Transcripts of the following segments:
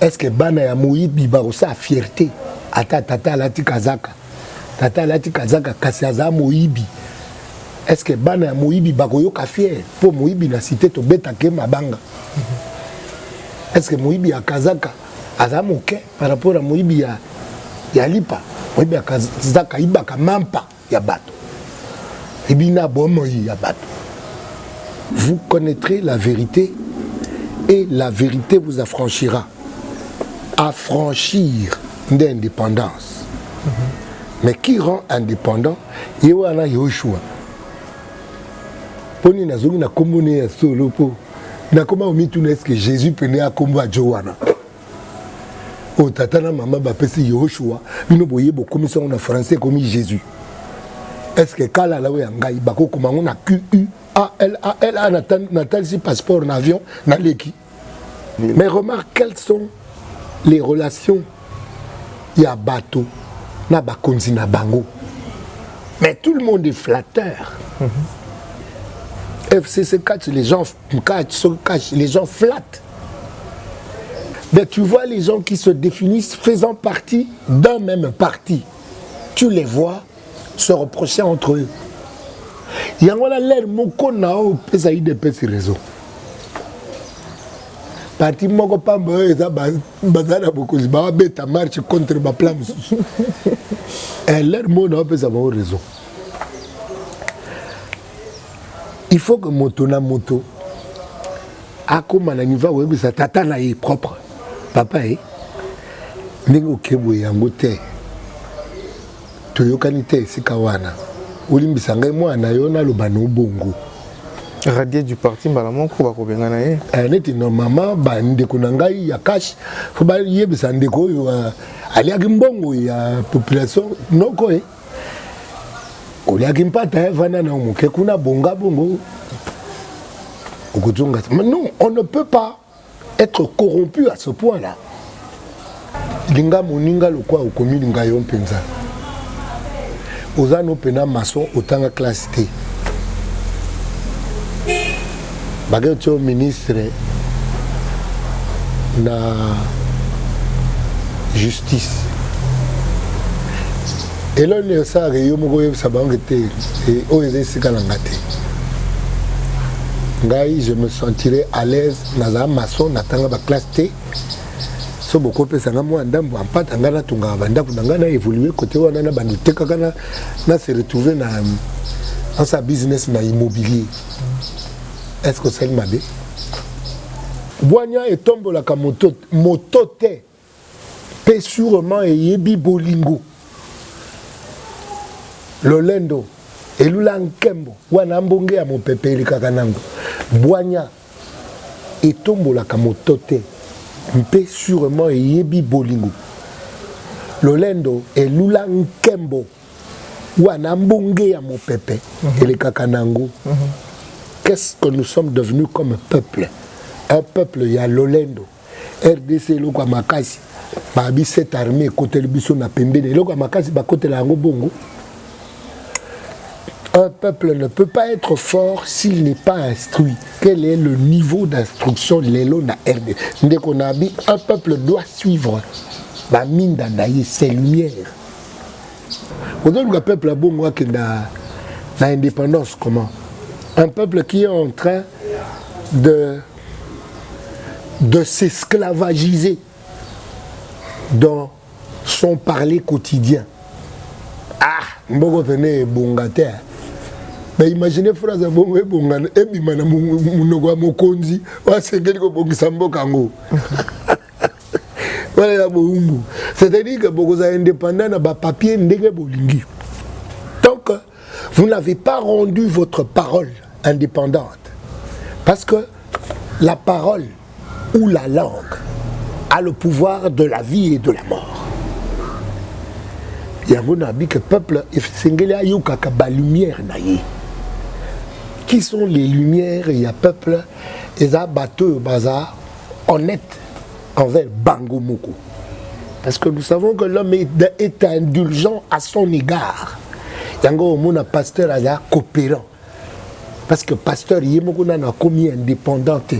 est ce que bana ya moyibi bakosala fierte ata tata alati kazaka tata alati kazaka kasi aza moyibi est ce que bana ya moyibi bakoyoka fiere mpo moyibi na site tobetake mabanga est ce que moyibi ya kazaka aza moke par rapport ya moyibi ya, ya lipa moyibi ya kazaka ayibaka mampa ya bato ebi na bomoi ya bato vous connaîtrez la vérité et la vérité vous affranchira affranchir nde indépendance mm -hmm. mais qui rend indépendant ye wana yoshua mpo nini nazongi na nkombo ne ya solo mpo nakoma omituna eske jésus pene akombo ya jo wana oyo tata na mama bapesi yehoshua bino boye bokomisi yango na français ekomi jésus estce kalala oyo ya ngai bakokoma yango na quala natalisi passeport na avion naleki mais remarque quelles sont les relations ya bato na bakonzi na bango mais tout le monde est flatteur mm -hmm. fcc catch les gens catch so catch les gens flattent Mais tu vois les gens qui se définissent faisant partie d'un même parti. Tu les vois se reprocher entre eux. yango wana lere moko na oyo opesa udps réseau parti moko pamba oyo eza baza na bokonzi babeta marche contre baplan mosusu eh, lere moko na oyo opesa bango réseau il faut que moto na moto akoma na niveau akoyebisa tata na ye propre papa e ndenge oke boye yango te toyokani te esika wana olimbisa ngai mwana yo naloba na obongo radier du parti mbala moko bakobengana ye eh, neti normalement bandeko na ngai ya kashe fo bayebisa ndeko oyo eh, aliaki mbongo ya population noko e eh. oliaki mpata eh, vanda na moke kuna bonga bongo okozonga mais non on ne peut pas être corrompu à ce point là linga moninga lokwa okomi linga yo mpenza oza no mpena maçon otanga classe te Bakeo tio ministre na justice eloko nini esalaka yo moko oyebisa bango ete eh, oyo eza esika na nga te ngai je me sentirai à l'aise nazala maçon natanga baklasse te so bokopesa nga mwa ndambo ampata ngai natongaka bandako na ngai na évolue kote wana na bando tekaka na se retrouve na nasa business na immobilier est ce que osali mabe bwanya etombolaka moto, moto te mpe surement eyebi bolingo lolendo elula nkembo wana mbonge ya mopepe elekaka nango bwanya etombolaka moto te mpe surement eyebi bolingo lolendo elula nkembo wana mbonge ya mopepe mhm. elekaka na yango mhm. qu'est-ce que nous sommes devenus comme peuple un peuple ya lolendo rdc eloko ya makasi babi cette armée ekoteli biso na pembeni eloko ya makasi bakotela yango bongo Un peuple ne peut pas être fort s'il n'est pas instruit. Quel est le niveau d'instruction de l'élo na RD Ndeko Nabi, un peuple doit suivre. Ba minda na ye, ses lumières. ozoluka peuple ya bongo akenda na indépendance comment un peuple qui est en train de de s'esclavagiser dans son parler quotidien ah mboko pene ebonga te na imagine phrase ya bongo ebonga ebima na monoko ya mokonzi oyo asengeli kobongisa mboka yango wana ya bowumbu c'est-à-dire que bokozala indépendant na bapapier ndenge bolingi tant que vous n'avez pas rendu votre parole indépendante parce que la parole ou la langue a le pouvoir de la vie et de la mort yango nabi que peuple esengeli ayokaka balumière na ye qui sont les lumières ya peuple eza bato oyo baza honnête envers bango moko. Parce que nous savons que l'homme est, est indulgent à son égard. Yango omona pasteur aza coopérant. Parce que pasteur ye moko nana akomi indépendant te.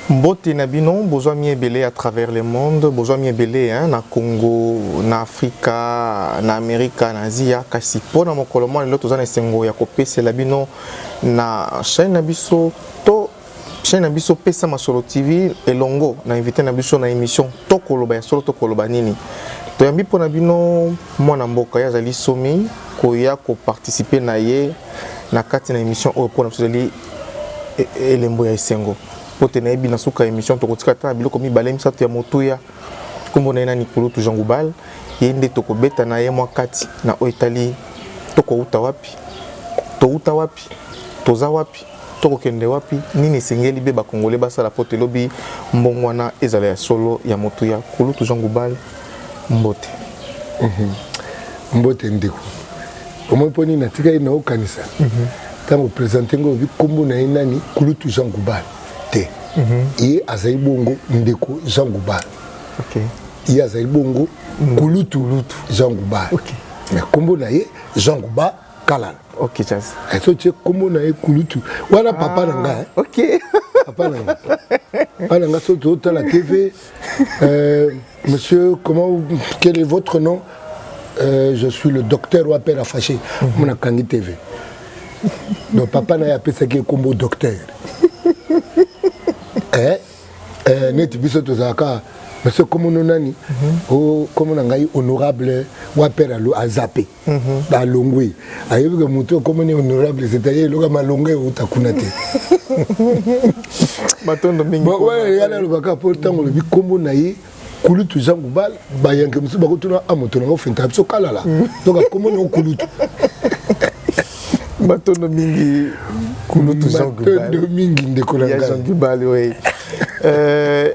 mbote na bino bozwami ebele à travers le monde bozwami ebele hein, na congo na afrika na amerika na asia kasi mpo na mokolo mwa lelo toza na esengo ya kopesela bino na chaîne na biso to chaîne na biso pesa masolo tv elongo na invité na biso na émission tokoloba ya solo tokoloba nini toyambi mpo na bino mwana mboka ye azali somi koya koparticipe na ye na kati na émission oyo mpo na biso ezali e, e, elembo ya esengo mpo te nayebi na suka ya émission tokotika ata na biloko mibale misato ya motuya nkombo na ye na nikulutu jean goubal ye nde tokobeta na ye mwa kati na oyo etali tokouta wapi touta wapi toza wapi Toko kende wapi? Nini esengeli be ba congolais basala po te lobi mbongwana ezala ya solo ya motuya? Kulutu Jean Goubal, mbote. Mhm. Mbote ndeko. Omoni po nini natikali na okanisa? Mhm. Tango presente ngo obi kombo na ye nani? Kulutu Jean Goubal. Te. Mhm. Ye azali bongo ndeko Jean Goubal. Okay. Ye azali bongo kulutu Jean Goubal. Okay. Mais kombo na ye Jean Goubal kalala ok jazz eh, so tie kombo na ye kulutu wana papa na nga eh. ok papa na nga papa na nga so totala tv euh, monsieur comment quel est votre nom euh, je suis le docteur wa père afaché mhm. mona kangi tv donc papa na ye apesaki ye kombo docteur eh, eh, neti biso tozalaka monsieur komono nani mhm. o oh, komo na ngai honorable wa père azape balongwe ayebi ke motu ekomani honorable c'est-à-dire eloka malonga euta kuna te matondo mingi yana alobaka mpo ntango olobi nkombo na ye kulutu jean gubal bayanke mosusu bakotuna a moto nango fenta biso kalala donc akombo nango kulutu matondo mingi kulutu jean gubal matondo mingi ndeko na ngai jean gubal oui euh,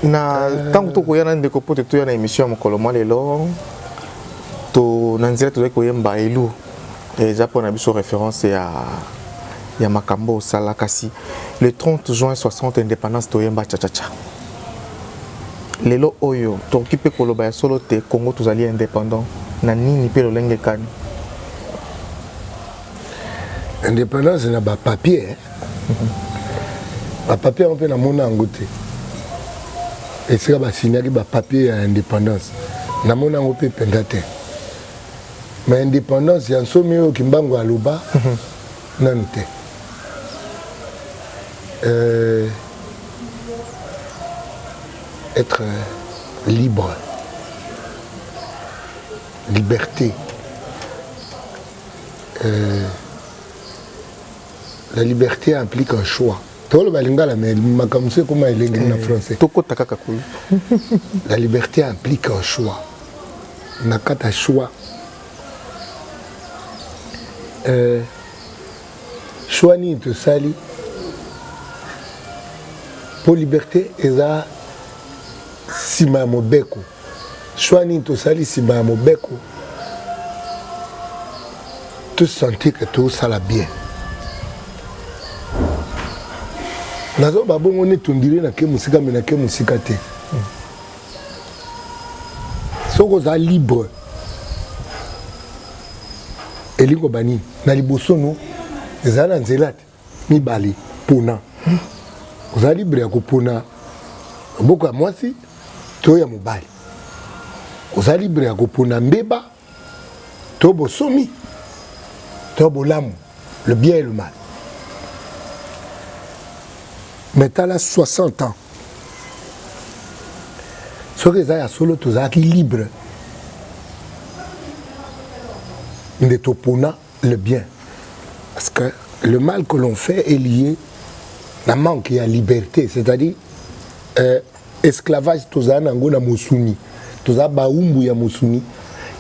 na ntango tokoya na ndeko mpo toya na émission ya mokolo mwa lelo to na nzela tozali koyemba elu eza mpo na biso référence ya ya makambo osala kasi le 30 juin 60 indépendance toyemba chachacha lelo oyo tokoki mpe koloba ya solo te congo tozali indépendant na nini mpe lolenge kani indépendance na ba papier eh? ba papier yango mpe namona yango te esika basignaki ba papier ya indépendance namona yango mpe mpenza te ma indépendance ya nsomi oyo kimbangu aloba mhm. nanu te euh, être libre liberté euh, la liberté implique un choix toloba lingala mais makambo mosusu ekoma elengeli na eh, français tokota kaka kuna la liberté implique un choix na kati ya choix euh, choix nini tosali mpo liberté eza nsima ya mobeko Choix nini tosali nsima ya mobeko tosentir ke tosala bien nazoba bongo neti ondire nake mosika me nake mosika te soki oza libre elingi koba nini na liboso no ezala na nzela te mibale pona oza libre ya kopona loboko ya mwasi to ya mobali oza libre ya kopona mbeba to bosomi to bolamu le bien et le mal mais tala 60 ans soki eza ya solo tozalaki libre nde topona le bien parce que le mal que l'on fait est lié na manque ya liberté c'est-à-dire euh, esclavage tozala na yango na mosuni tozala baumbu ya mosuni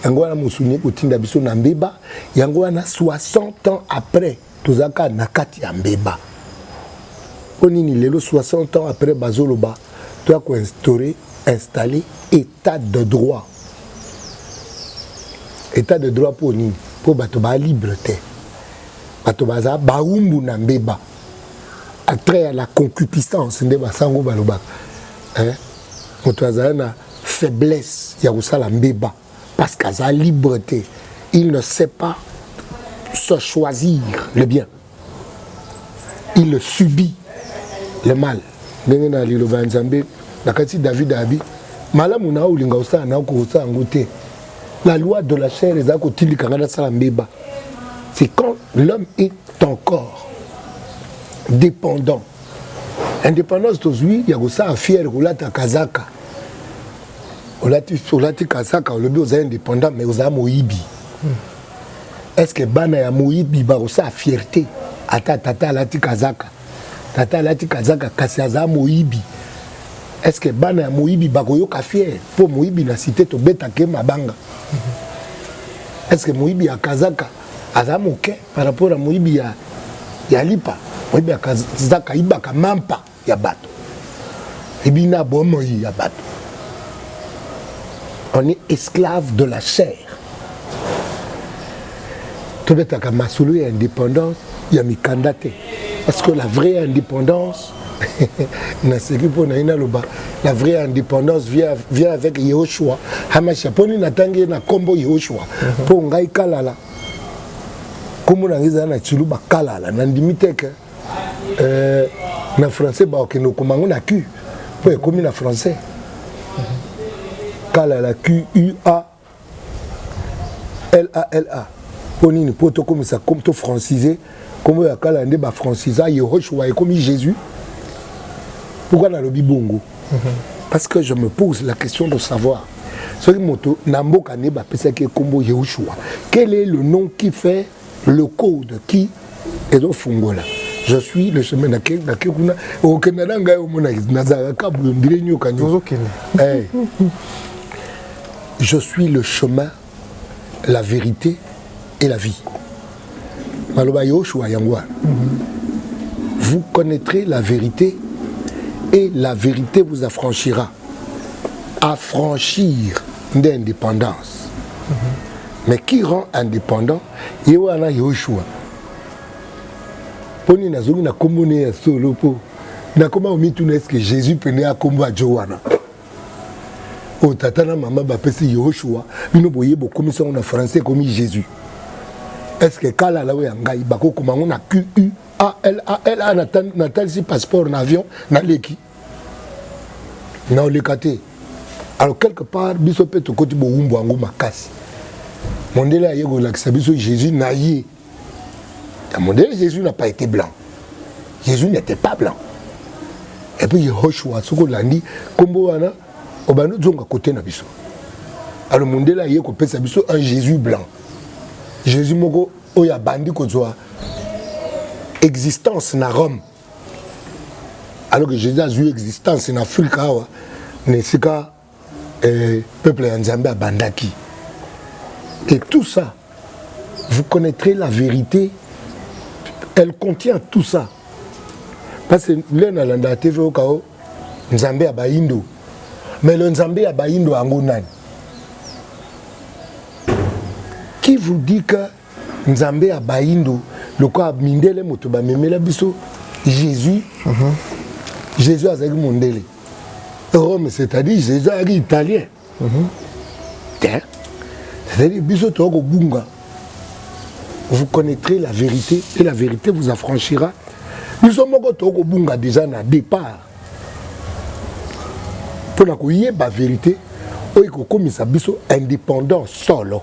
yango wana mosuni ekotinda biso na mbeba yango wana 60 ans après tozalaka na kati ya mbeba mpo nini lelo 60 ans après bazoloba toya koinstaure installe et Etat de droit. Etat de droit mpo nini? Mpo bato ba libre te. Bato baza baumbu na mbeba. Attrait ya la concupiscence nde basango balobaka. Eh? Moto azali na faiblesse ya kosala mbeba parce qu'aza libre te. Il ne sait pas se choisir le bien. il le subit le mal ndenge na liloba ya nzambe na kati david abi malamu na olinga osala na okosala yango te la loi de la chair eza kotindika ngai nasala mbeba c'est quand l'homme est encore dépendant indépendance tozwi ya kosala fiere kolata kazaka olati, olati kazaka olobi oza indépendant mais oza moyibi hmm. est ce que bana ya moyibi bakosala fierte ata tata alati kazaka tata alati kazaka kasi aza moyibi est ce que bana ya moyibi bakoyoka fiere mpo moyibi na site tobetake mabanga est ce que moyibi ya kazaka aza moke par rapport ya moyibi ya, ya lipa moyibi ya kazaka ayibaka mampa ya bato ebi na bomoi ya bato on est esclave de la chair tobetaka masolo ya indépendance ya mikanda te parce que la vraie indépendance naseki mpo na ye naloba la vraie indépendance vient, vient avec yehoshua hamasha mpo nini natangi ye na nkombo yehoshua mpo mhm. ngai kalala nkombo na ngai ezali na ciluba kalala nandimi teke euh, na français bakokende kokoma yango na q mpo ekomi na français kala la q u a la la mpo nini mpo tokomisa comme to francise nkombo ya kala nde bafrancisa yehoshua ekomi jésus pourquoi nalobi bongo parce que je me pose la question de savoir soki moto na mboka nde bapesaki ye nkombo yehoshua quel est le nom qui fait le code qui ezofungola je suis le chemin na ke na ke kuna okenda na ngai omona nazalaka kabuyo ndire nyoka nyoka eh. je suis le chemin la vérité et la vie maloba yoshua yango wana vous connaîtrez la vérité et la vérité vous affranchira affranchir nde indépendance mm -hmm. mais qui rend indépendant ye wana yoshua mpo nini nazongi na nkombo ne ya solo mpo nakoma komituna eske jésus pene akombo ajo wana oyo tata na mama bapesi yoshua bino boye bokomisi yango na français ekomi jésus eske kalala oyo ya ngai bakokoma yango na qu alala natalisi passeport na avion naleki na oleka te alors quelque part biso mpe tokoti bowumbu yango makasi mondele aye kolakisa biso jésus na ye ya mondele jésus n'a pas été blanc jésus n'était pas blanc et puis yehoshua soki olandi nkombo wana obandi ozonga kote na biso alors mondele aye kopesa biso un jésus blanc jésus moko oyo abandi kozwa existence na rome alors que jésus azwi existence na afrika awa na esika eh, peuple ya nzambe abandaki et tout ça vous connaîtrez la vérité elle contient tout ça parce que lelo nalandaka tv okao nzambe ya bayindo mais le nzambe ya bayindo yango nani qui vous dit que nzambe ya bayindo lokola mindele moto bamemela biso jésus mm -hmm. jésus azalaki mondele rome c'est-à-dire jésus azalaki italien mm -hmm. te c'est-à-dire biso toya kobunga vous connaîtrez la vérité et la vérité vous affranchira biso moko toya kobunga déjà na départ mpo na koyeba vérité oyo ekokomisa biso indépendant solo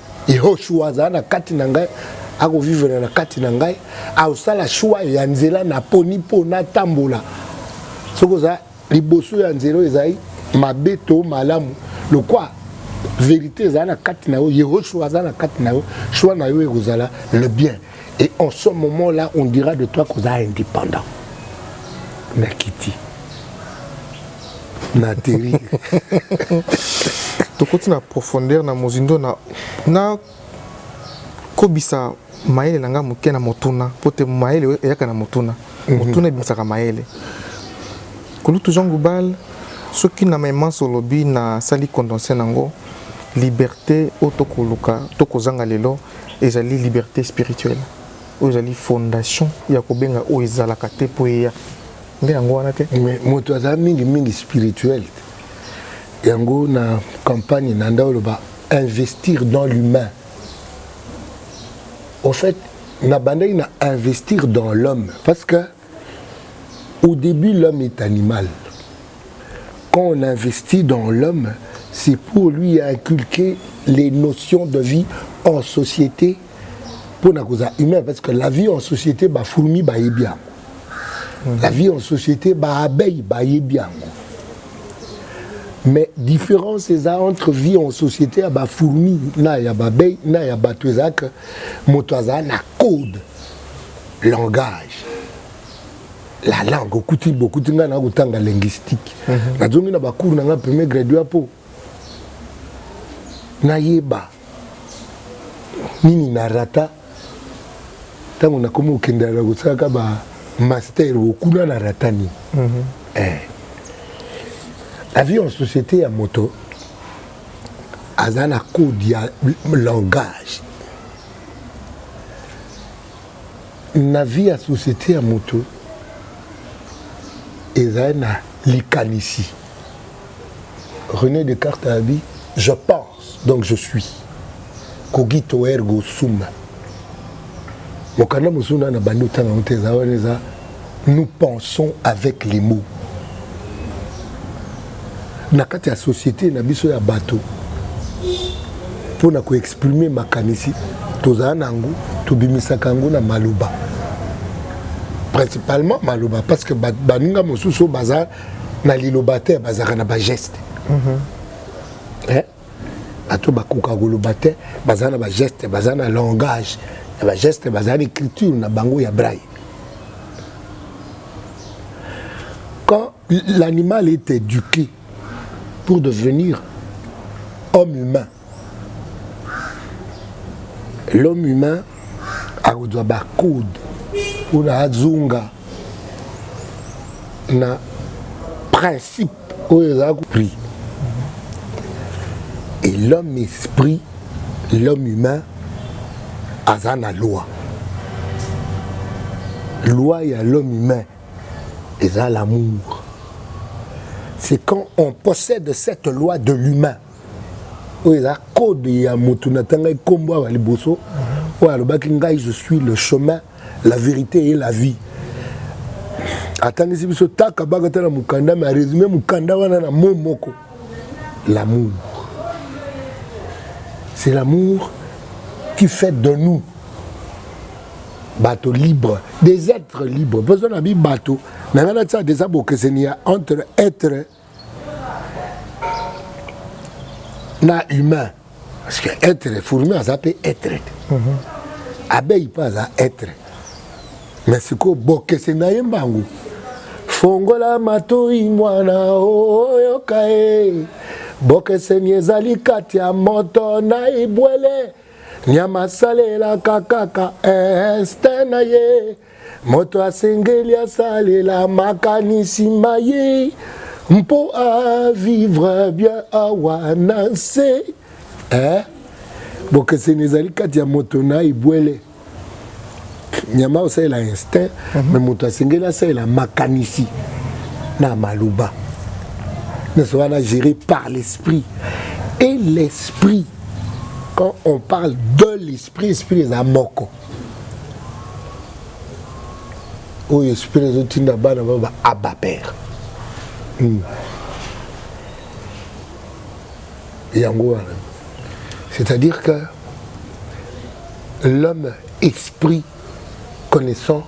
Yehoshua azala na kati na ngai, akovivela na kati na ngai, akosala shwa ya nzela naponi mpo natambola. Soki oza liboso ya nzela oyo ezali mabe to malamu, lokwa verite ezala na kati na yo, Yehoshua aza na kati na yo, shwa na yo ekozala le bien. et en ce moment là on dira de toi koza indépendant nakiti na atterri tokoti na profondeur na mozindo na na kobisa mayele na ngai moke na motuna mpo te mayele eyaka na motuna mhm. motuna ebimisaka mayele kulutu jean goubal soki na maimanso olobi nasali condense na yango liberté oyo tokoluka tokozanga lelo Ezali liberte spirituelle oyo ezali fondation ya kobenga oyo ezalaka te mpo eya nde yango wana te moto azala mingi mingi spirituel te yango na campagne na nda oloba investir dans l'humain au fait nabandaki na investir dans l'homme parce que Au début, l'homme est animal. Quand on investit dans l'homme, c'est pour lui inculquer les notions de vie en société pour na koza humain parce que la vie en société ba fourmi ba yebiango. La vie en société ba abeille ba yebiango. Mais différence eza entre vie en société ya ba fourmi na ya ba abeille na ya bato ezaka moto aza na code langage la langue okuti bokuti ngai na kotanga linguistique mm -hmm. nazongi na bacours na ngai premier graduat mpo nayeba nini na rata ntango nakomi kokendela na kosalaka ba master okuna na rata nini mm -hmm. eh. avion société ya moto aza na code ya langage Na vie ya societe ya moto ezali na likanisi. Rene Descartes alobi je pense donc je suis cogito ergo sum. Mokanda mosusu na na bandi otanga yango te eza wana eza nous pensons avec les mots na kati ya société na biso ya bato mpo na koexprime makanisi tozala na yango tobimisaka yango na maloba principalement maloba parce que baninga mosusu baza na liloba te bazalaka na bageste mm -hmm. eh? bato bakoka koloba te baza na bageste baza na langage ya bageste baza na écriture na bango ya braille quand l'animal est éduqué pour devenir homme humain l'homme humain akozwa bacode mpona azonga na principe oyo eza prix et l'homme esprit l'homme humain aza na loi loi ya l'homme humain eza l'amour c'est quand on possède cette loi de l'humain oyo eza code ya motu natangaki nkombo awa liboso oyo alobaki ngai je suis le chemin la verite et la vie atangisi biso taka baka ta na mokanda me aresume mokanda wana na mo moko l'amour c'est l'amour qui fait de nous bato libre des êtres libres besoin na bi bato na ngai natia deja bokeseni ya entre être na humain parce que être fourmi aza mpe être te mhm. abeille mpe aza être mais sikoyo bokese na ye mbangu fongola matoi mwana oyoka e bokeseni ezali kati ya moto na ibwele nyama asalelaka kaka este na ye moto asengeli asalela makanisi ma ye mpo avivre bien awa na nse eh? bokeseni ezali kati ya moto na ebwele nyama osalela instinct mm -hmm. me moto asengeli asalela makanisi na maloba nyonso wana géré par l'esprit et l'esprit quand on parle de l'esprit esprit esprit eza moko oyo esprit ezotinda bana ba ba abba père hmm. yango wana c'est-à-dire que l'homme esprit connaissant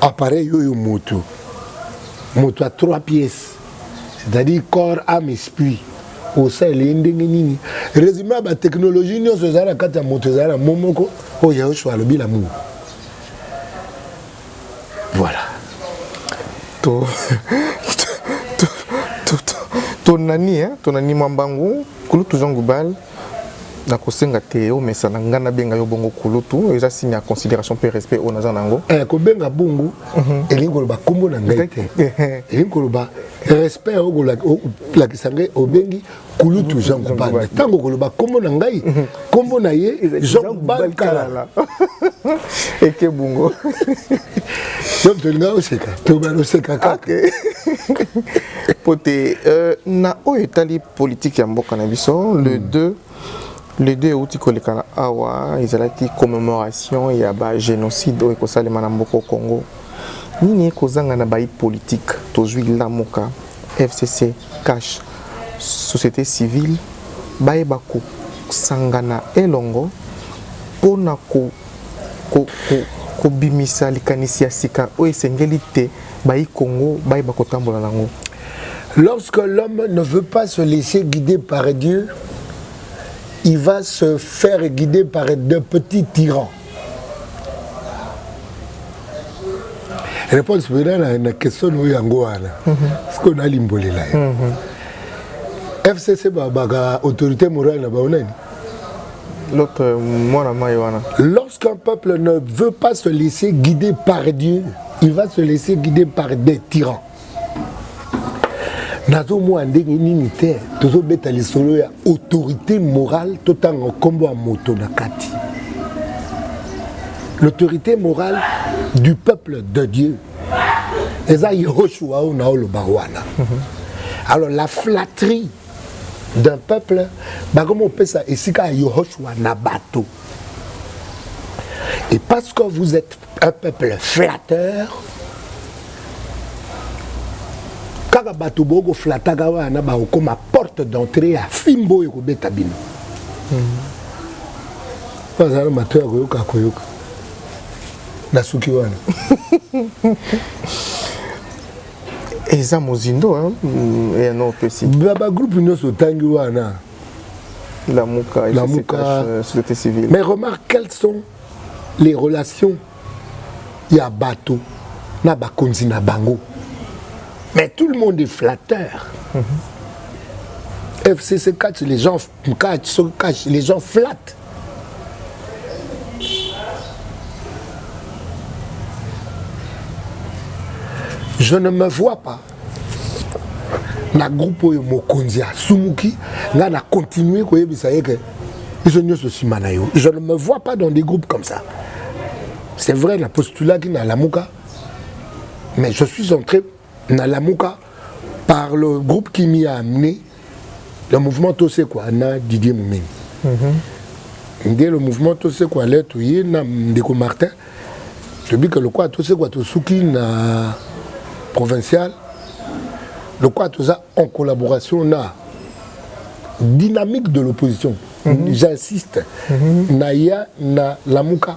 appareil oyo moto moto ya 3 pièces c'est-à-dire corps ame esprit osalela ye ndenge nini résumé ya batechnologie nyonso ezali na kati ya moto ezali na mo moko oyo yaosua alobi na muu voilà to to to to to nani hein to nani mambangu kulutu jean goubal nakosenga te omesana ngai nabenga yo bongo kulutu eza signe ya considération mpe respect oyo naza na yango eh, kobenga bongo mhm. elingi koloba nkombo na ngai te eh, eh. elingi koloba respect ya okolakisa ngai obengi kulutu mhm. jean kubal me ntango okoloba nkombo na ngai mhm. nkombo na ye jean kubal kalala eke bongo yo tolinga oseka tobana oseka kaka mpo te euh, na oyo etali politique ya mboka na biso le 2 hmm. le 2 euti koleka na awa ezalaki commémoration ya ba génocide oyo ekosalema na mboka congo nini ekozanga na bayi politique tozwi lamuka fcc cash société civile bayeba kosangana elongo mpo na ko kobimisa likanisi ya sika oyo esengeli te bayi Congo bayeba kotambola nango. Lorsque l'homme ne veut pas se laisser guider par Dieu, il va se faire guider par de petits tyrans. Réponse pena na, na question oyo yango wana sikoyo nalimbolela yo FCC babaka autorité morale na bango nani L'autre, euh, moi, Lorsqu'un peuple ne veut pas se laisser guider par Dieu, il va se laisser guider par des tyrans. nazomona ndenge nini te tozobeta lisolo ya autorité morale totanga nkombo ya moto na kati l'autorité morale du peuple de dieu eza yehoshua oyo na oloba wana mhm. alors la flatterie d'un peuple bakomi kopesa esika ya yohoshua na bato et parce que vous êtes un peuple flatteur kaka bato boyo koflataka wana bakokoma porte d'entrée ya fimbo oyo ekobeta bino bazala hmm. mato ya koyoka koyoka nasuki wana eza mozindo ya no opesi na bagroupe nyonso otangi wana lamuka lamuka euh, société civile mais remarque quelles sont les relations ya bato na bakonzi na bango mais tout le monde est flatteur mm -hmm. fcc catch les gens catch so catch les gens flattent je ne me vois pas na groupe oyo mokonzi asumuki ngai na continue koyebisa ye ke biso nyonso nsima na yo je ne me vois pas dans des groupes comme ça c'est vrai na postulaki na lamuka mais je suis entré Na Lamuka, par le groupe qui m'y a amené, le mouvement Tosekwa na Didier Mumeni. Mm -hmm. Nde le mouvement Tosekwa le toye na ndeko Martin. Tobika lokola Tosekwa tosuki na provincial. Lokola toza en collaboration na dynamique de l'opposition. Mm -hmm. J'insiste. Mm -hmm. Naya na Lamuka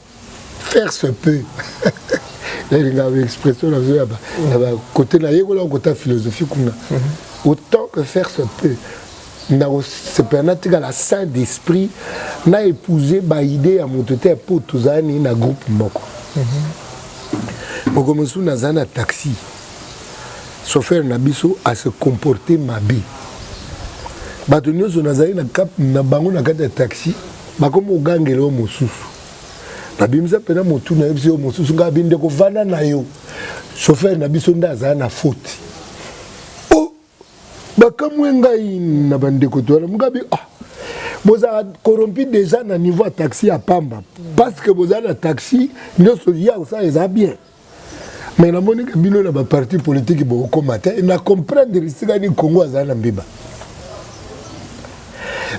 faire se peut elinga ba expression nazo ya ba côté na yekola kota philosophie kuna autant que faire se peut nakosepela natikala saint d'esprit na épouse baide ya moto te mpo tozalani na groupe moko moko mosusu nazali na taxi chauffeur na biso ase comporte mabe bato nyonso nazali na bango na kati ya taxi bakomi kogangela yo mosusu nabimisa mpena motu nayebisi yo mosusu ngai abi ndeko vanda na yo chauffeur na biso nde azala na foti o oh, bakamwe ngai na bandeko towana ngabi ah bozala corrompu déjà na niveau ya taxi ya pamba parce que bozala na taxi nyonso ye akosala eza bien mais namoni ke bino na baparti politiki bokokoma te na comprendre esika nini congo azali na mbiba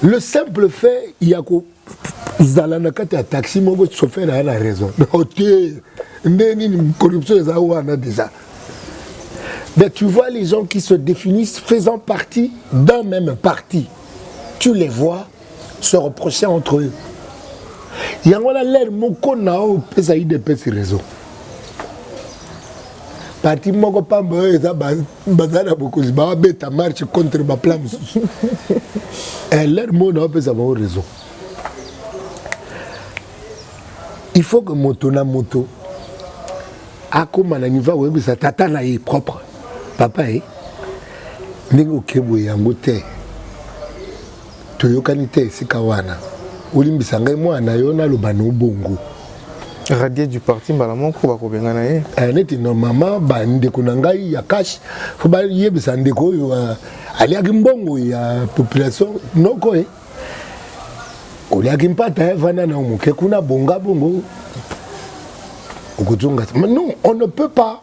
le simple fait ya kozala na kati ya taxi moko chauffeur aya na raison ote nde nini corruption eza wana déjà mais tu vois les gens qui se définissent faisant partie d'un même parti tu les vois se reprocher entre eux yango wana lere moko na oyo opesa udps raison parti moko pamba oyo eza baza na bokonzi bawabeta marche contre baplan mosusu eh, lere moko na opesa bango raison il faut que moto na moto akóma na niveau akoyebisa tata na ye propre papa ye eh, ndenge okeboye yango te Toyokani te esika wana. Olimbisa ngai mwana yo naloba no bongo. Radier du parti mbala moko bakobengana ye. Eh, neti normalement ba ndeko na ngai ya cash faut ba yebisa ndeko oyo euh, aliaki mbongo ya population noko eh. Oliaki mpata eh, vanda na moke kuna bonga bongo. Okozonga. Non, on ne peut pas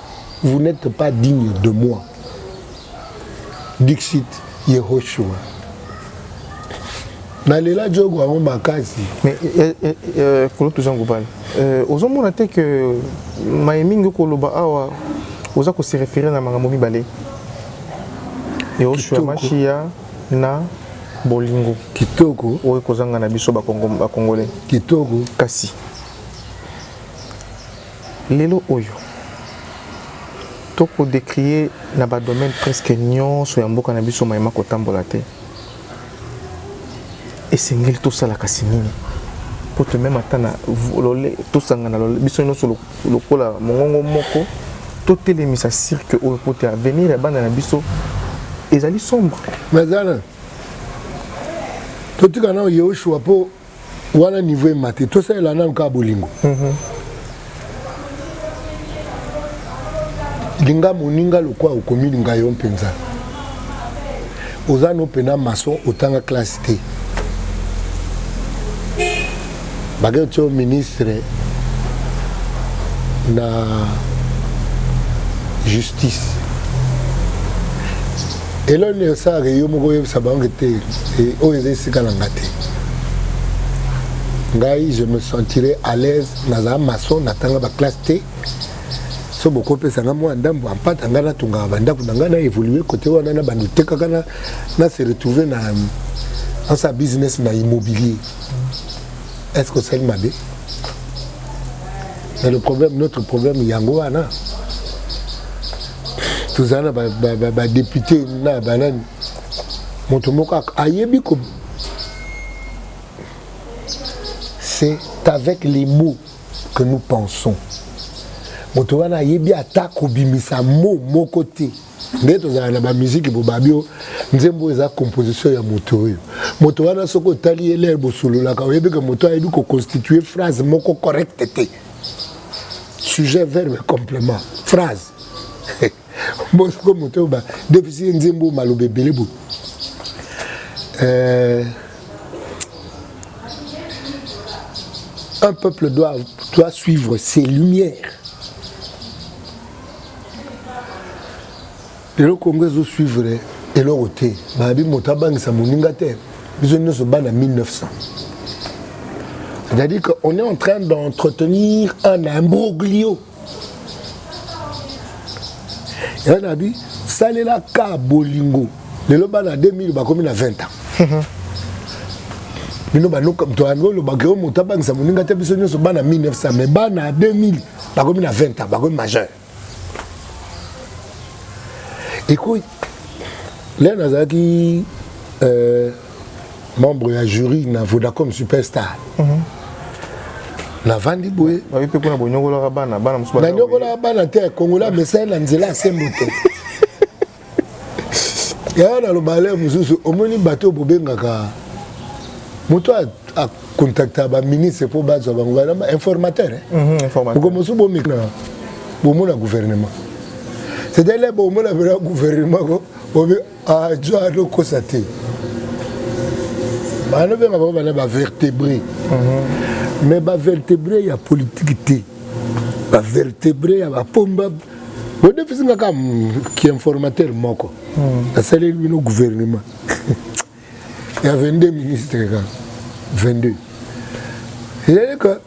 Vous n'etes pas digne de moi. Dixit Yehoshua. nalela jogo yango makasi mais eh, eh, eh, kolo toza ngobala euh, ozomona te ke maye mingi okoloba awa oza kose référé na makambo mibale yehoshua mashiya na bolingo kitoko oyo ekozanga na biso bakongole kitoko kasi Lelo oyo, to ko decrier na ba domaines presque nionso ya mboka na biso maye ma ko tambola te, esengeli to sala kasi nini? Po to mema ata na lole, to sangana lole, biso nionso lokola mongongo moko, to telemisa cirque oyo po te avenir ya bana na biso ezali sombre. Mais Alain, to tika nanu Yehoshua po wana niveau emati tosalela nanu kaka bolingo mm -hmm. linga moninga lokwa okomilinga yo mpenza oza no mpena maçon otanga classe te bake otyo ministre na justice eloko nini osalaka yo moko oyebisa bango ete eh, oyo eza esika na nga te ngai je me sentirai à l'aise nazala maçon natanga baklasse te so bokopesa nga mwa ndambo ampata ngai natongaka bandako na ngai na évolue kote wana na bando tekaka na se retrouve na ansa business na immobilier est ce que osali mabe mais le problème notre problème yango wana tozala na badepute na banani moto moko ayebi ko c'est avec les mots que nous pensons moto wana ayebi ata kobimisa mo moko te nde tozalaka na bamiziki bobabi oyo nzembo oyo eza composition ya moto oyo moto wana soki otali ye lere bosololaka oyebike moto ayebi koconstitue phrase moko correcte te sujet verbe complément phrase bosiko moto ba defisi ye nzembo oyo maloba ebele boye euh, un peuple doit, doit suivre ses lumières lelo congo ezo suivre eloko te babi moto abangisa moninga te biso nyonso bana 1900 c'est-à-dire qu'on est en train d'entretenir un imbroglio yango nabi salela ka bolingo lelo bana 2000 bakomi na 20 ans mhm. bino banokamtoyangolobaka yo moto abangisa moninga te biso nyonso bana 1900 mais bana 2000 bakomi na 20 ans bakomi majeur ekoyi lea nazalaki euh, membre ya jury na vodacom superstar mm -hmm. navandi boye nanyokolaka bana te kongola mesai na nzela ya sembo te yaya naloba ale mosusu omoni bato oyo bobengaka moto akontakta baministre mpo bazwa bango baa informateur moko mhm, mosusu bomekna bomona gouvernement c'est-à-dire bomona mpena gouvernement ko obi ajwa ah, tokosa te bana obenga bango bana bavertébré mhm. mais bavertébré ya politike te bavertébré ya bapomba bodefisi nga kaka kiinformateur moko hmm. nasaleli bino gouvernement ya 22 ministre kaka 22 ezali ka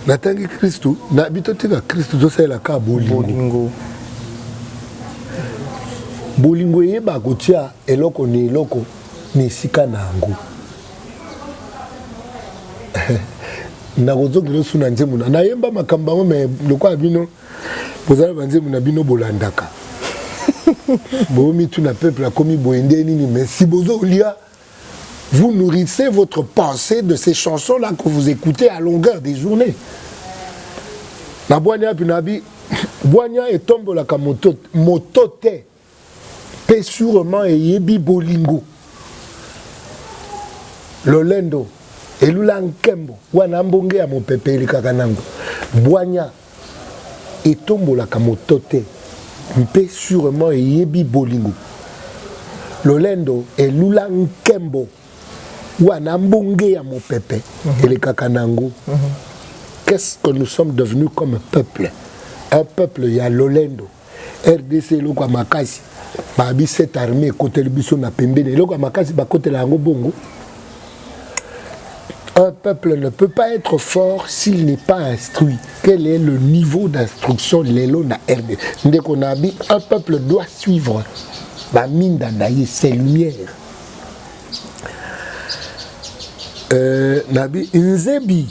natangi kristu na bito tika kristu tosalela kaka bolingo bolingo eyeba kotya eloko na eloko na esika na yango nakozongela osu na nzembo na nayemba makambo yango me lokola bino boza na banzembo na bino bolandaka bomituna peuple akomi boye nde nini me si bozolia vous nourrissez votre pensée de ces chansons là que vous écoutez à longueur des journées na bwani api na abi bwani etombolaka moto te mpe surement eyebi bolingo lolendo elula nkembo wana mbonge ya mopepe elekaka nango bwanya etombolaka moto te mpe surement eyebi bolingo lolendo elula nkembo wana mbonge ya mopepe mhm. elekaka nango mhm. qu'est-ce que nous sommes devenus comme peuple un peuple ya lolendo rdc eloko ya makasi babi cette armée ekoteli biso na pembeni eloko ya makasi bakotela yango bongo un peuple ne peut pas être fort s'il n'est pas instruit quel est le niveau d'instruction lelo na rdc ndeko na abi un peuple doit suivre baminda na ye ses lumières euh, nabi nzebi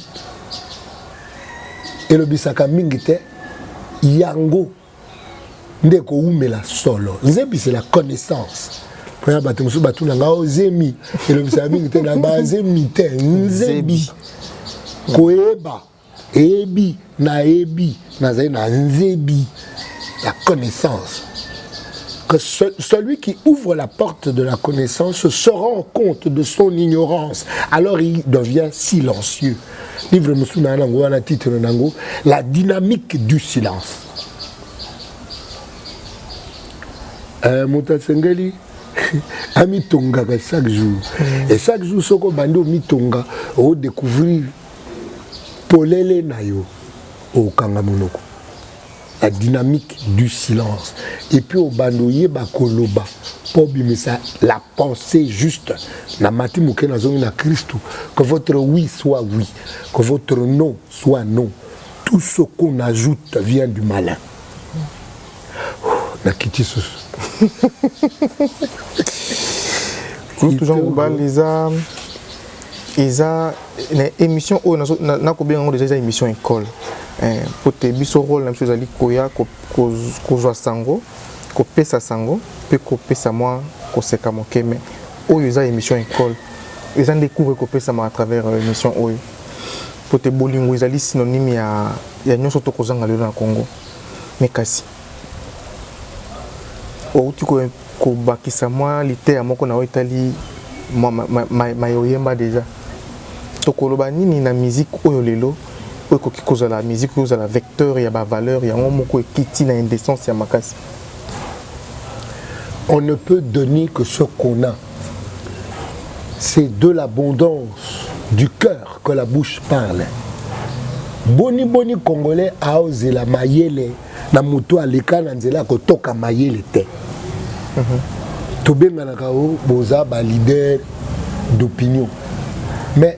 elobisaka mingi te yango nde ekowumela solo nzebisi la connaissance mpona bato mosusu batuna nga o oh, zemi elobisaka mingi te na bazemi te nzebi koyeba eyebi nayebi nazali na nzebi la connaissance que celui qui ouvre la porte de la connaissance se rend compte de son ignorance, alors il devient silencieux. livre mosusu na yango wana titre na yango la dynamique du silence eh, moto asengeli amitongaka chaque jour mm. et chaque jour soki obandi omitonga odécouvrir polele na yo okanga monoko la dynamique du silence et puis obanda oyeba koloba mpo obimisa la pensée juste na mati moke nazongi na kristu que votre oui soit oui que votre non soit non tout ce qu'on ajoute vient du malin nakiti susu kulutu jean kobal eza eza na émission oyo nakobenga yango deja eza émission école eh, mpo te biso role na biso ezali koya kozwa sango kopesa sango mpe kopesa mwa koseka moke me oyo eza émission école eza nde cours ekopesamaka à travers euh, émission oyo mpo te bolingo ezali synonyme ya, ya nyonso tokozanga lelo na congo me kasi Outi kobakisa mwa liteya moko na oyo etali maye oyemba deja. Tokoloba nini na miziki oyo lelo oyo ekoki kozala miziki oyo ozala vecteur ya bavaleur yango moko ekiti na indecence ya makasi? On ne peut donner que ce qu'on a. C'est de l'abondance du cœur que la bouche parle. Boni boni congolais aozela mayele na moto aleka na nzela ya kotoka mayele te mhm. tobenganaka o oh, boza balider d'opinion mais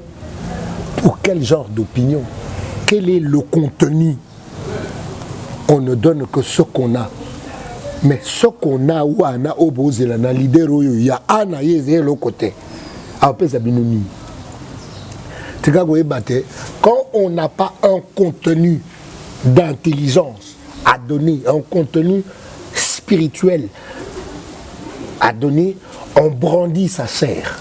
pour quel genre d'opinion quel est le contenu on ne donne que ce qu'on a mais ce qu'on a wana oyo oh, bozela na lider oyo oh, ya a na ye eza eloko te apesa bino nini tika koyeba te quand on n'a pas un contenu d'intelligence à donner, un contenu spirituel à donner, on brandit sa sœur.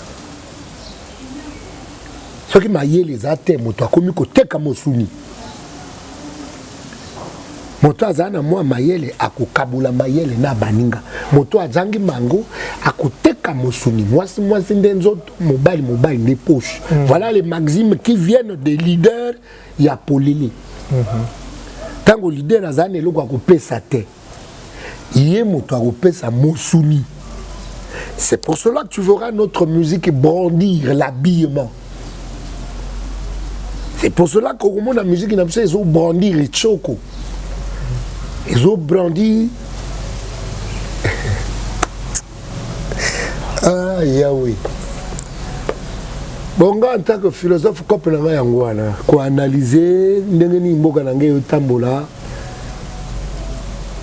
Ce qui m'a dit, les athènes, moi, toi, comme que t'es comme souni. moto azali na mwa mayele akokabola mayele na baninga moto azangi mango akoteka mosuni mwasi mwasi nde nzoto mobali mobali nde poche mm. voilà les maximes qui viennent des leaders ya polele ntango lidere azali na eloko ya kopesa te ye moto akopesa mosuni c'est pour cela que tu verras notre musique brandir l'habillement c'est pour cela que okomona musique na biso ezobrandir echoko ezobrandir ah yawe bon nga en tant que philosophe cope na ngai yango wana koanalyse ndenge nini mboka na ngai eyotambola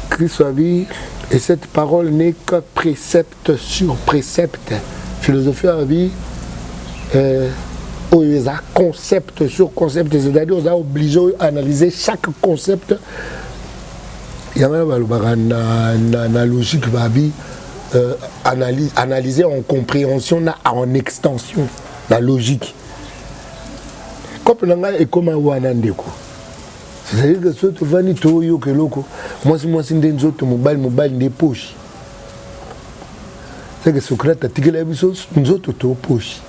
kristo abi et cette parole n'est que précepte sur précepte philosophie abi euh, oyo eza concept sur concept c'est-à-dire oza oblige oyo analyse chaque concept yangana balobaka na, na, na logique babi euh, analyse, analyser en compréhension na en extension na logique kope na ngai ekoma wana ndeko c'est-à-dire que soki tovandi toyoka eloko mwasi mwasi nde nzoto mobali mobali nde poshi seke socrate atikela biso nzoto to poshi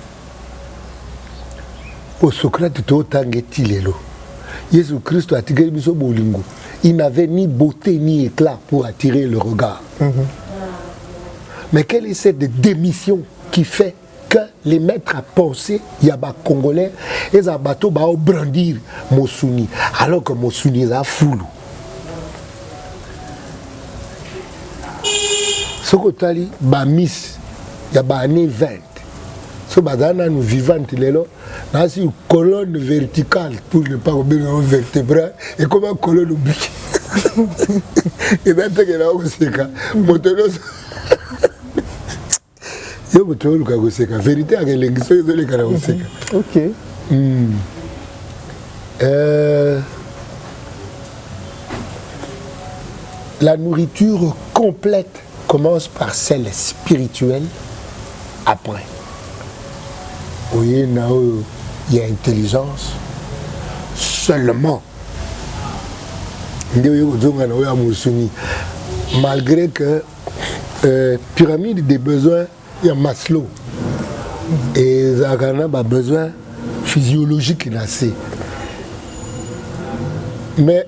Au Socrate totanga ti lelo. Yesu Christo atikeli biso bolingo. Il n'avait ni beauté ni éclat pour attirer le regard. Mm -hmm. Mais quelle est cette démission qui fait que les maîtres à penser ya ba congolais eza bato ba brandir mosuni alors que mosuni eza fulu. Soki otali ba miss ya ba année 20 so bazala nanu vivante lelo nasi colonne verticale pour ne pas kobenga o vertebral ekoma colonne obiki eza teke na koseka moto nyonso yo moto oluka koseka verité yaka elengi soki ezoleka na koseka okay. mm. euh... la nourriture complète Commence par celle spirituelle après. Oye na oyo ya intelligence seulement nde oye kozonga na oyo ya mosuni malgré que euh, pyramide des besoins ya Maslow ezalaka na babesoin physiologique na se mais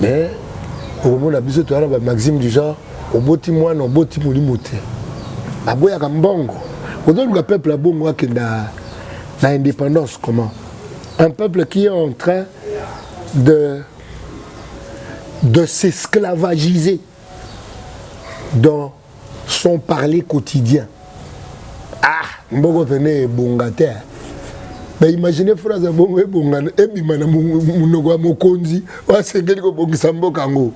mais okomona biso toyana ba maxime du genre oboti mwana oboti molimo te aboyaka mbongo ozoluka peuple abongo akenda na indépendance comment un peuple qui est en train de de s'esclavagiser dans son parler quotidien ah mboko pene ebonga te na imagine phrase ya bongo ebonga ebima na monoko ya mokonzi oyo asengeli kobongisa mboka yango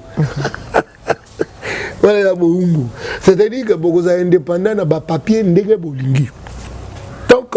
wana ya boumbu c'est-à-dire que bokozala indépendant na bapapier ndenge bolingi donc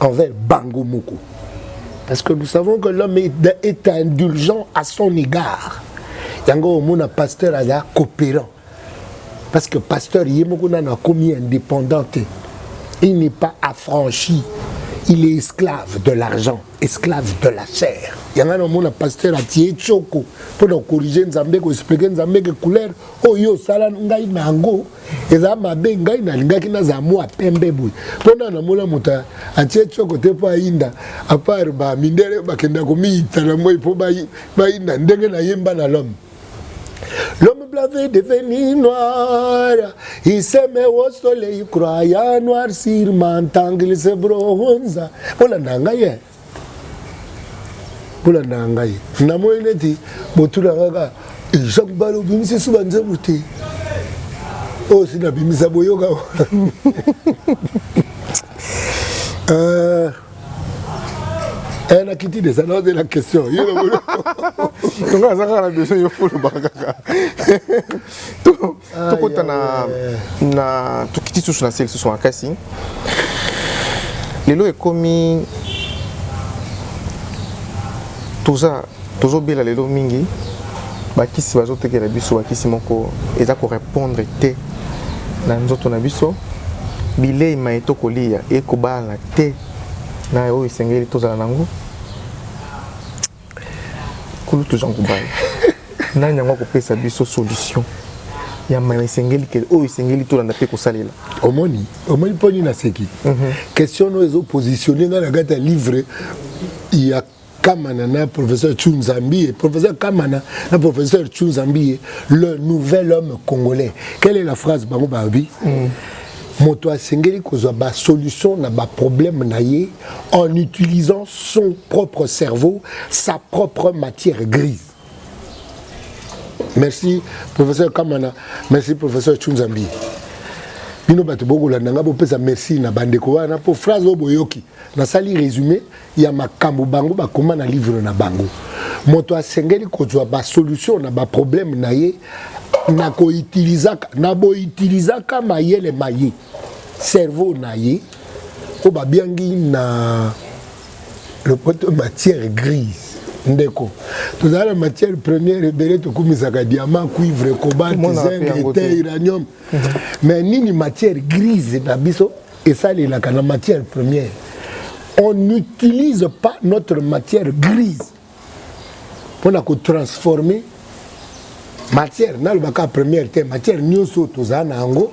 envers bango moko parce que nous savons que l'homme est, est indulgent à son égard yango omona pasteur aza coopérant parce que pasteur ye moko nano akomi indépendant te il n'est pas affranchi il est esclave de l'argent esclave de la chair yanga na omona pasteur atie tshoko mpo na kokorige nzambe koexplike nzambe ke couleur oyo osala ngai na yango eza mabe ngai nalingaki nazala mwa pembe boye mpo na namona moto atie tioko te mpo ayinda apart bamindele bakenda komiyita na moi mpo bayinda ndenge nayemba na lome L'homme blanc veut devenir noir. Il se met au soleil, croyant noir sur mentant qu'il se bronze. Olanda ngai bolandaka ngai namoni neti botunaka kaka jean bala obimisi esu banzembo te oyo si nabimisa boyoka euh, eh, nakiti deza naozela question tonga aza kaka na besoin yo folobaka kaka tokota na, na tokiti susu na se lisusu makasi lelo ekomi toza tozobela lelo mingi bakisi bazotekela biso bakisi moko eza korepondre te na nzoto na biso bilei mai tokolia ekobala te na oyo esengeli tozala na yango kulutu jean kubal nani yango akopesa biso solution ya mai esengeli kele oyo esengeli tolanda mpe kosalela omoni omoni mpo nini naseki mhm. question oyo ezopositionne ngai na kati ya livre ya Kamana na professeur Chunzambie, professeur Kamana na professeur Chunzambie, le nouvel homme congolais. Quelle est la phrase Bango Babi mm. moto asengeli kozwa basolution na baproblème na ye en utilisant son propre cerveau, sa propre matière grise. Merci, professeur Kamana. Merci, professeur Chunzambi. bino bato bokolanda ngai bopesa merci na bandeko wana mpo phrase oyo boyoki nasali résumé ya makambo bango bakoma na livre na bango moto asengeli kozwa basolution na baproblème na ye na koitilizaka na boitilizaka mayele maye cerveau na ye oyo babiangi na lopoto matière grise ndeko tozala na matière première ebele tokumisaka diamant cuivre cobalt zinc te uranium mhm. mais nini matière grise na biso esalelaka na matière première on n'utilise pas notre matière grise mpo na kotransforme matière nalobaka première te matière nyonso oyo tozala na yango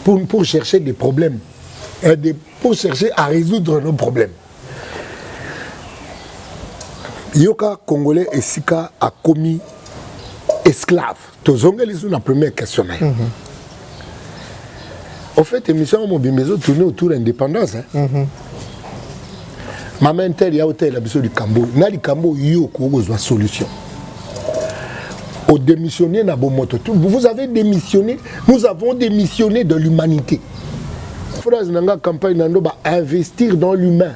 pour, pour chercher des problèmes et de, pour chercher à résoudre nos problèmes yoka congolais esika akomi esclave tozongeli lisusu na première question na ye mm -hmm. au fait émission yango mobimba ezotourne autour ya indépendance hein? mm -hmm. mama intel ya otalela biso likambo oyo na likambo oyo yo okoki kozwa solution odémissionne na bomoto vous avez démissionné nous avons démissionné de l'humanité phrase na nga campagne na ndo ba investir dans l'humain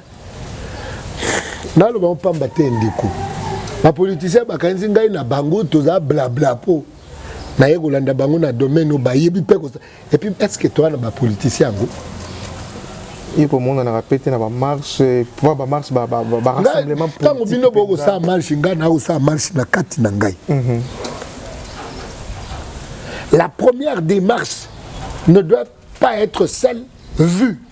naloba ngo mpamba te ndeko bapolitisien bakanisi ngai na bango toza blabla po naye kolanda bango na domaine oyo bayebi mpe kosa epuis estce toa na bapolitisien yango ye komonanaka mpe te na bamarche po bamarche barassemblement ntango bino bokosala marche ngai nakosala marche na kati na ngai mhm. la première démarche ne doit pas être celle vue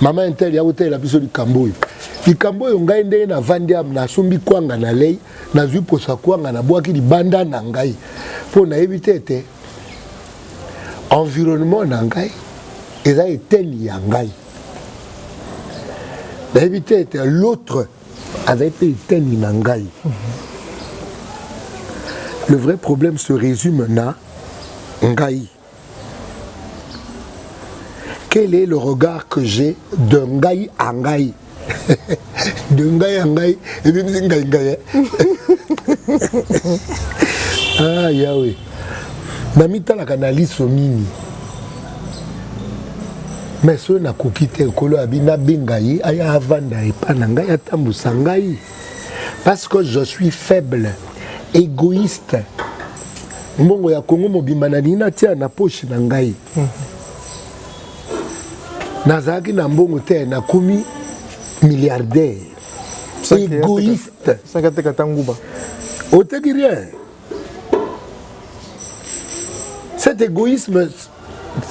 mama intel ya kotalela biso likambo oyo likambo oyo ngai ndenge navandi am nasombi kwanga na lei nazwi mposa kwanga nabwaki libanda na ngai mpo nayebi te ete environnement na ngai eza eteni ya ngai nayebi te ete l'autre azali mpe eteni na ngai le vrai problème se résume na ngai Quel est le regard que j'ai de ngai à ngai de ngai à ngai et même si ngai ngai ah Yahweh namitalaka na liso nini mais soki nakoki te ekolo abi nabenga ye aya avanda epa na ngai atambwisa ngai parce que je suis faible égoïste mbongo ya kongo mobimba nalingi natia na poche na ngai mm. nazalaki na mbongo te nakomi milliardaire égoïste oteki rien Cet égoïsme,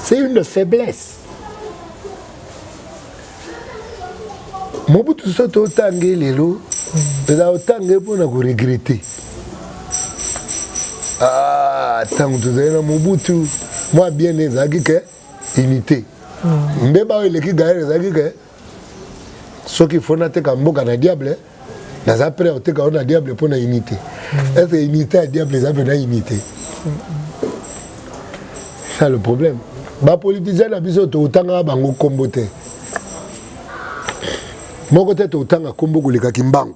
c'est une faiblesse. Mobutu soki totange lelo eza otange mpo na koregrete ntango ah, tozali na mobutu mwa bien ezalaki ke unité mbeba oyo eleki gaere ezalaki ke soki il faut nateka mboka na diable naza prêt oteka yo na diable mpo na unité mm. est ce que unité ya diable eza mpe na unité mm. ça le problème bapolitisien na biso totangaka bango nkombo te moko te totanga nkombo koleka kimbangu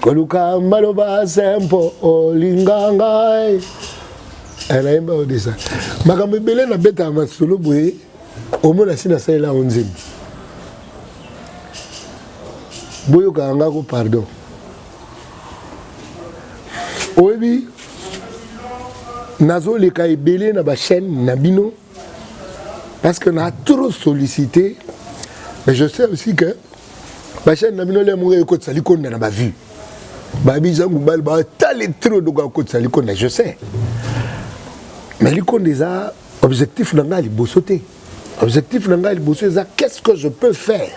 koluka maloba sempo olinga ngai eh, nayemba odisa makambo ebele nabetaka masolo boye omona si nasalela yango nzembo boyokaka ngako pardon oyebi nazoleka ebele na bachaîne na bino parce que na trop sollicité mais je sais aussi que bachaine na bino le moko ekotisa likonda na bavue bayebi jangu bale batali trop doko akotisa likonda je sais mais likonda eza objectif na ngai liboso te objectif na ngai liboso eza qu'est ce que je peux faire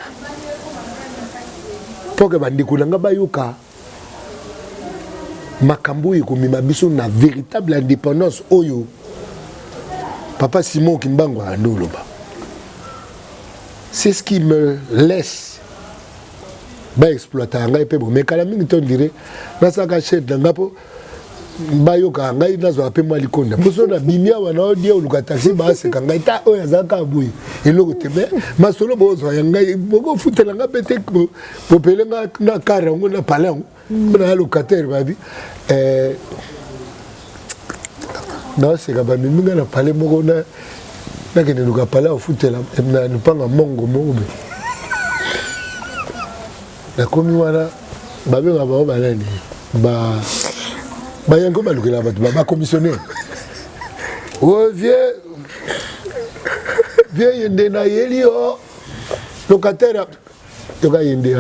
mpo ke bandeko na ngai bayoka makambo oyo ekomema biso na véritable indépendance oyo papa simon kimbangu alandi oloba c'est ce qui me laisse baexploitaka ngai mpe bomekala mingi to ndire nasalaka chef na ngai mpo bayokaka ngai nazwaka mpe mwa likonda mpo soki nabimi awa na odie oluka taxi baaseka ngai ta oyo azalaka boye eloko te me masolo bozwa ya ngai bokofutela ngai mpe te popele ngai na kare yango na pale yango mpo na ya locataire babi eh, naoseka bamemi ngai na pale moko nakende luka pale afutela na lupanga mongo moko boye nakomi wana babengaka bango banani bayango balukela bato bakomissionnaire o vie vie ye nde nayeli yo locataire yoka ye nde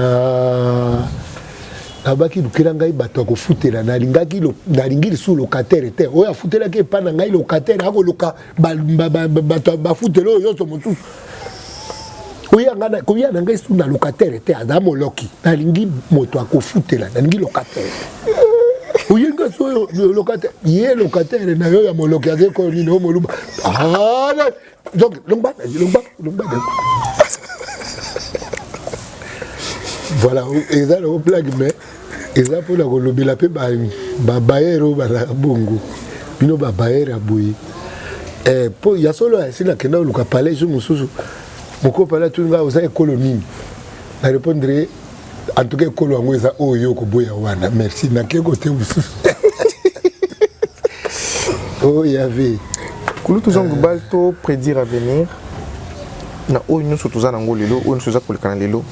abaki lukela ngai bato ya kofutela nalingaki nalingi lisusu locataire te oyo afutelaki epai na ngai locataire akoluka bato ya bafuteli oyo nyonso mosusu koya na ngai su na locataire te aza moloki nalingi moto akofutela nalingi locataire oye ngai su oyo locataire ye locataire na yo ya moloki aza ekoyo nini oyo moluba ah, donc longba longba longba voilà eza na oplage mais eza mpo na kolobela mpe babayere oyo bazalaka bongo bino babayere ya boye eh, mpo ya solo asi nakenda oluka palais jour mosusu mokolo palais atuni ngai oza ekolo nini na répondre en tout cas ekolo yango eza oyo yo okoboya wana merci nake kote mosusu oyo oh, yave kulutu jean global to prédire avenir na oyo nyonso toza nango lelo oyo nyonso eza kolekana lelo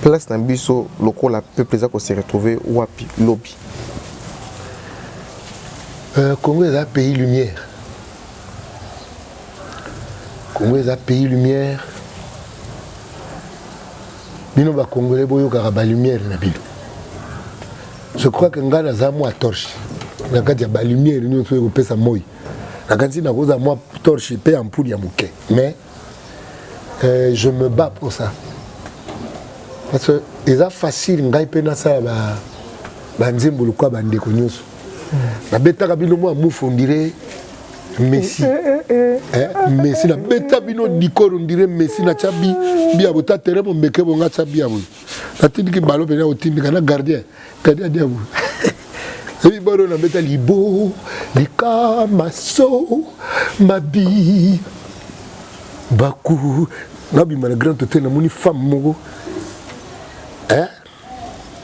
place na biso lokola peuple eza ko se retrouver wapi lobi euh, Congo eza pays lumière Congo eza pays lumière bino ba congolais boyokaka ba lumière na bino je crois que ngai naza mwa torche na kati ya ba lumière nyonso oyo ekopesa moi nakanisi nakozala mwa torche mpe ampule ya moke mais euh, je me bats pour ça parce que eza facile ngai mpe nasala banzembo lokola bandeko nyonso hmm. nabetaka bino mwa mufu ondire messi eh, eh, eh, eh, messi nabeta bino dikoro ondire messi natya bi biabo ta tere bombeke bonga tya biabo natindiki balo mpenza kotindika na gardien gardien adiabu ebi balo na beta libo likamaso mabi baku nabima na grand hotel namoni femme moko hein?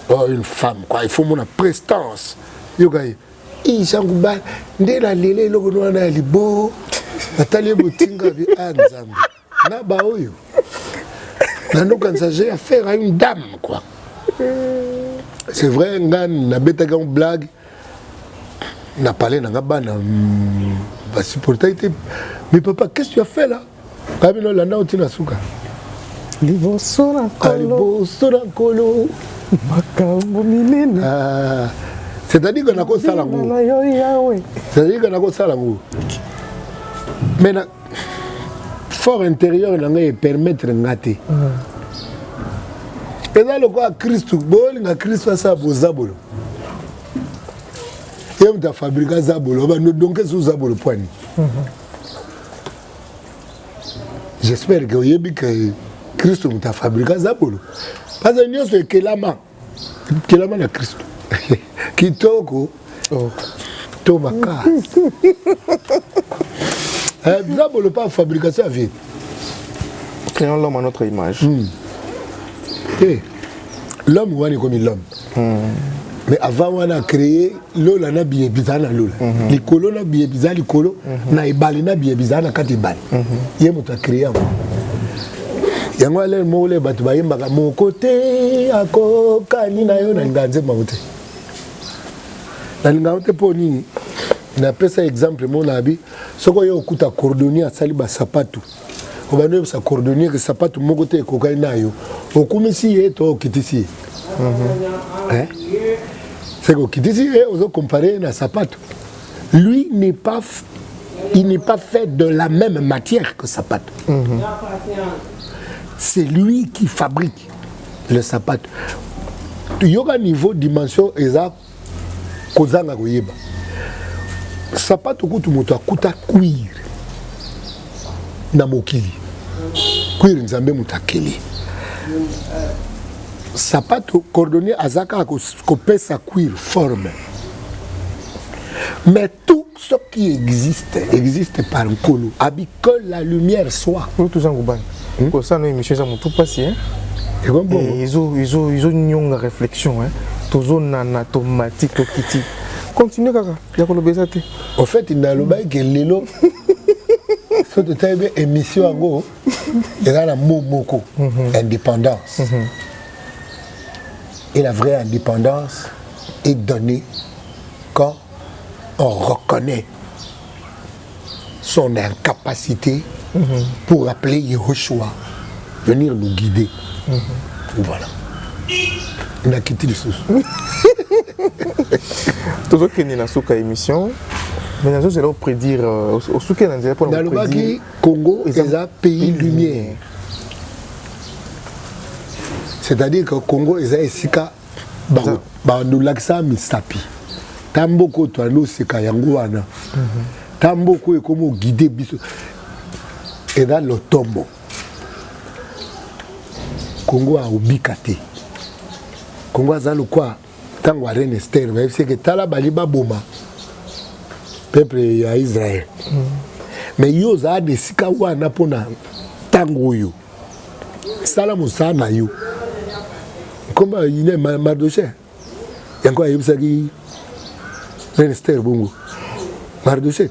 oh, une femme quoi il faut mona prestance yoka ye isangu ba nde nalela eloko nwana ya libo natali ye botinga bi a ah, nzambe na baoyo nanokanisa j'ai affaire à une dame quoi c'est vrai nga nabetaki yango blague na pale na nga bana hmm, basupportaki te mais papa qu'est-ce que tu as fait là abi no landa oti na suka liboso na ah, liboso na nkolo makambo minene ah, c'est-à-dire que nakosala ngo c'est-à-dire que nakosala ngo mais fort intérieur na ngai epermettre nga te eza lokola kristu bolinga kristu asala bozabolo ye moto afabrika zabolo obando donke esu zabolo pwani j'espère ke oyebi ke kristu moto afabrika zabolo parce nyonso ekelama kelama na kristo kitoko oh. to makasi eh, biza bolopa fabrication ya vie créons l'homme à notre image mm. hey, eh, l'homme wana ekomi l'homme mm. mais avant wana créer lola na biye bizala na lola mm -hmm. likolo na biye bizala likolo mm -hmm. na ebale na biye bizala na kati ebale mm -hmm. ye moto akreye yango yango alele moko le bato bayembaka moko te akokani na yo nalingaka nzembo yango te nalingaka te mpo nini napesa exemple moko na abi soki oye okuta cordonnier asali basapatu mm -hmm. obandi oyebisa cordonnier ke sapato moko te ekokani nayo okumisi ye to okitisi ye mhm. seke okitisi ye ozokompare ye na sapato lui n'est pas il n'est pas fait de la même matière que sapato mhm. c'est lui qui fabrique le sapato yoka niveau dimension eza kozanga koyeba sapato kutu moto akuta cuir na mokili cuir nzambe moto akeli sapato cordonnier aza kaka kopesa cuir forme mais tout ce qui existe existe par nkolo abi que la lumière soit oyo toza ngubani hmm? kosala na émission eza motu mpasi ezonyonga réflexion tozonana tomati tokiti continue kaka ya koloba eza te au fait nalobaki ke lelo so totali mpe émission yango eza na mo moko mhm. indépendance mhm. et la vraie indépendance est donnée quand on reconnaît son incapacité mm -hmm. pour appeler Yehoshua venir nous guider. Mm -hmm. Voilà. nakiti lisusu tozokende na suka émission mais nazozela oprédire euh, osuki na nzela mpona nalobaki congo eza pays lumière c'est-à-dire que congo eza esika bandolakisa misapi ta mboko oyo toyandi oseka yango wana mhm. ta mboko oyo ekomi ogide biso eza lotombo kongo aobika te kongo aza lokwa ntango ya reine ester bayebisi eke tala bali baboma peuple ya israel mhm. mais yo ozala na esika wana mpona ntango oyo sala mosala na yo nkombo ya ine mardoche yango ayebisaki ministère bongo mardoche